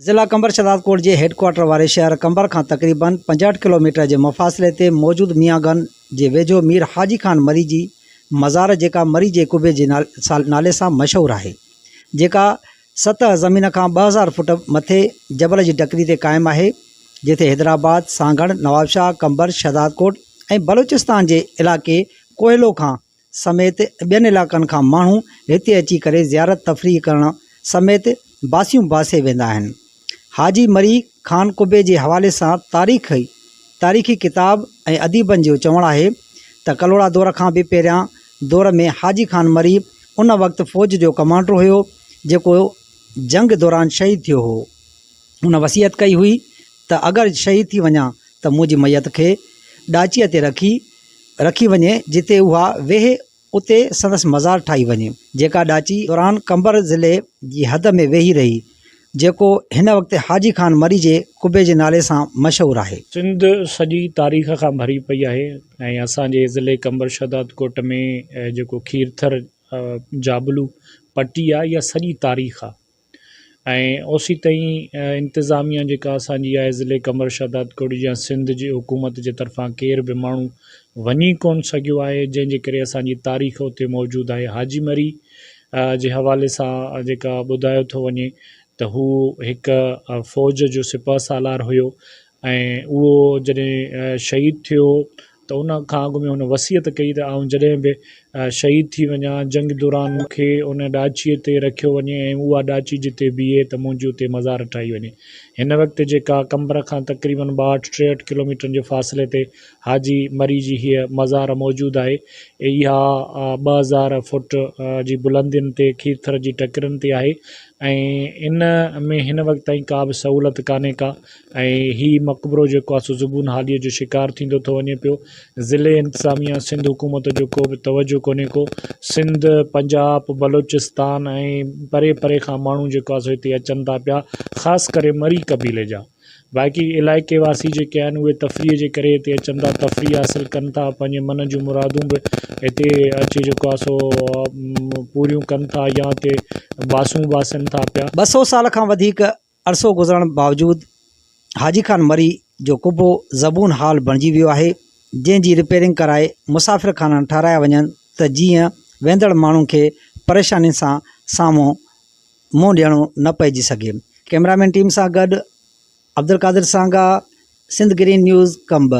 ضلع قمبر شهدادڪوٽ جي headquarter واري شهر قمبر کان تقريبن پنجهٺ ڪلوميٽر جي مفاصلي تي موجود ميان گن جي ويجهو مير حاجي خان مري جي مزار جيڪا مري جي قبي جي نالي سان مشهور آهي جيڪا سطح زمين کان ٻه هزار فوٽ مٿي جبل جي ٽڪري تي قائم آهي، جنهن تي حيدرآباد، سانگهڙ، نوابشاهه، قمبر، شهدادڪوٽ ۽ بلوچستان جي علائقي ڪوهلو کان سميت ٻين علائقن کان ماڻهو هتي اچي ڪري زيارت تفريح ڪرڻ سميت باسيون باسي ويندا آهن. حاجي مري خان قبي جي حوالي سان تاريخ، تاريخي ڪتاب ۽ اديبن جو چوڻ آهي ته ڪلهوڙا دور کان به پهريان دور ۾ حاجي خان مري ان وقت فوج جو ڪمانڊر هيو جيڪو جنگ دوران شهيد ٿيو هو. هن وصيت ڪئي هئي ته اگر شهيد ٿي وڃان ته منهنجي ميت کي ڏاچيء تي رکي رکي وڃي جتي اها ويهي اتي سندس مزار ٺاهي وڃي، جيڪا ڏاچي دوران قمبر ضلعي جي حد ۾ ويهي رهي، جيڪو هن وقت حاجي خان مري جي قبي جي نالي سان مشهور آهي. سنڌ سڄي تاريخ کان ڀري پئي آهي ۽ اسان جي ضلعي قمبر شهدادڪوٽ ۾ جيڪو کيرٿر جابلو پٽي آهي اها سڄي تاريخ آهي. ۽ اوسيتائين انتظاميه جيڪا اسان جي آهي ضلعي قمبر شهدادڪوٽ جي يا سنڌ جي حڪومت جي طرفان ڪير به ماڻهو وڃي ڪونه سگهيو آهي جنهن جي ڪري اسان جي تاريخ اتي موجود آهي حاجي مري جي حوالي سان جيڪا ٻڌايو ٿو وڃي ته هو هڪ فوج جو سپهه سالار هيو ۽ اهو جڏهن شهيد ٿيو ته ان کان اڳ ۾ هن وصيت ڪئي ته آئون جڏهن به شهيد ٿي وڃان، جنگ دوران مون کي ان ڏاچيء تي رکيو وڃي ۽ اها ڏاچي جتي بيهي ته منهنجي اتي مزار ٺاهي وڃي. هن وقت جيڪا قمبر کان تقريباً ٻاهٺ ٽيهٺ ڪلوميٽرن جي فاصلي تي حاجي مري جي هيء مزار موجود آهي. اها ٻه هزار فوٽ جي بلندين تي کيرٿر جي ٽڪرين تي آهي ۽ ان ۾ هن وقت تائين ڪا به سهولت ڪانهي ڪا ۽ هي مقبرو جيڪو آسو زبون حاليء جو شڪار ٿيندو ٿو وڃي پيو ضلعي انتظاميه سنڌ حڪومت جو ڪو به توجه ڪونهي ڪو سنڌ پنجاب بلوچستان ۽ پري پري کان ماڻهو جيڪو آسو هتي اچن ٿا پيا خاص ڪري مري قبيلي جا باقي علائقي واسي جيڪي آهن اهي تفريح جي ڪري هتي اچن ٿا تفريح حاصل ڪن ٿا پنهنجي من جون مرادون به هتي اچي جيڪو آ سو پوريون ڪن ٿا يا هتي باسون باسن ٿا پيا ٻه سو سال کان وڌيڪ عرصو گذرڻ باوجود حاجي خان مري جو قبو زبون حال بڻجي ويو آهي، جنهن جي رپيرنگ ڪرائي مسافر خانا ٺهرايا وڃن ته جيئن ويندڙ ماڻهن کي پريشانين سان سامهون منهن ڏيڻو نه پئجي سگهي. ڪئميرا مين ٽيم سان گڏ عبدالقادر سانگا، سنڌ گرين نيوز، قمبر.